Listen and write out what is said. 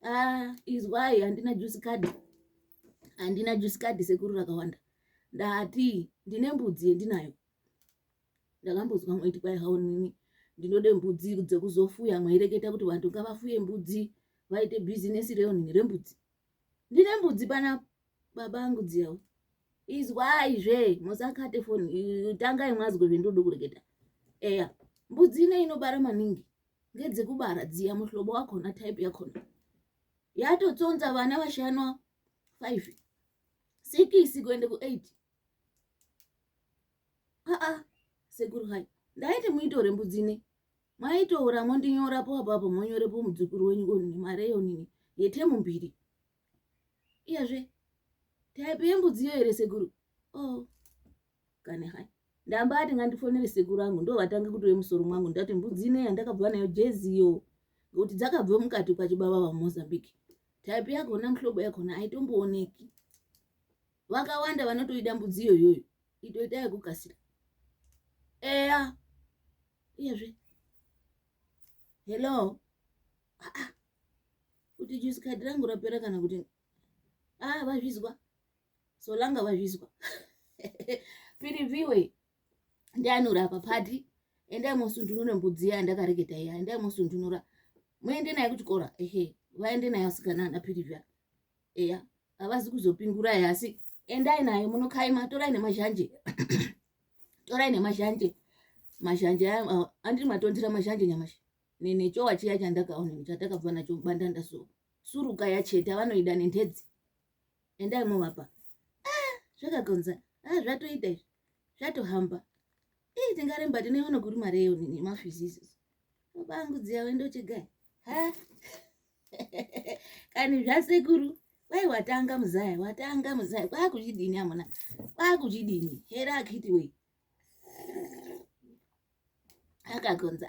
Ah, izwai handina juice card handina juice card sekuru rakawanda ndati ndine mbudzi yendinayo ndakambozwa mwaiti kwai haonini ndinode mbudzi dzekuzofuya mwaireketa kuti vantu ngavafuye mbudzi vaite bhizinesi reonini rembudzi ndine mbudzi pana baba angu dziyawo izwai zve musakate foni tangai mwazwe zvendodo kureketa eya mbudzi ine inobara maningi ngedzekubara dziya muhlobo wakona type yakona yatotsonza vana vashanwa 5 sikisi kuende ku8 aa sekuru hai ndaiti muitore mbudzi ne mwaitoora mondinyorapo apapo monyorepo mudzukuru wenyu konini mari yonini yetemu mbiri iyezve type yembudziyo here sekuru o oh. kani hai ndambati ngandifonere sekuru angu ndo vatange kutove musoro mwangu ndati mbudzi ine yandakabva nayo jeziyo ngokuti dzakabva mukati kwachibaba vamozambique type yakona muhlobo yakona aitombooneki vakawanda vanotoida mbudzi iyoyoyo itoita yekukasira eya iyezve hello aa kuti jusikadhi rangu rapera kana kuti ah vazvizwa solanga vazvizwa piriviwe ndianura apa pati endai mosundunura mbudzi iya yandakareketa iya endai mosundunura muende naye kuchikora ehe vaende naye asikana ana pirivia eya havazi kuzopingurai asi endai naye munokaima torai nemazhanje torai nemazhanje mazhanje andiri matondira mazhanje nyamashi nechowa chiya chandakaona chatakabva nacho mubandanda so suruka yacheta vanoida nentedzi endai movapa ah, zvakagonza ah, zvatoita izvi zvatohamba ii tingaremba tinoiona kuri mari eyo nini mafizizi vabangu dziya wendochegai ha kani zvasekuru kwai watanga muzaya watanga muzaya kwakuchidini amuna kwakuchidini hera akiti wei akagonza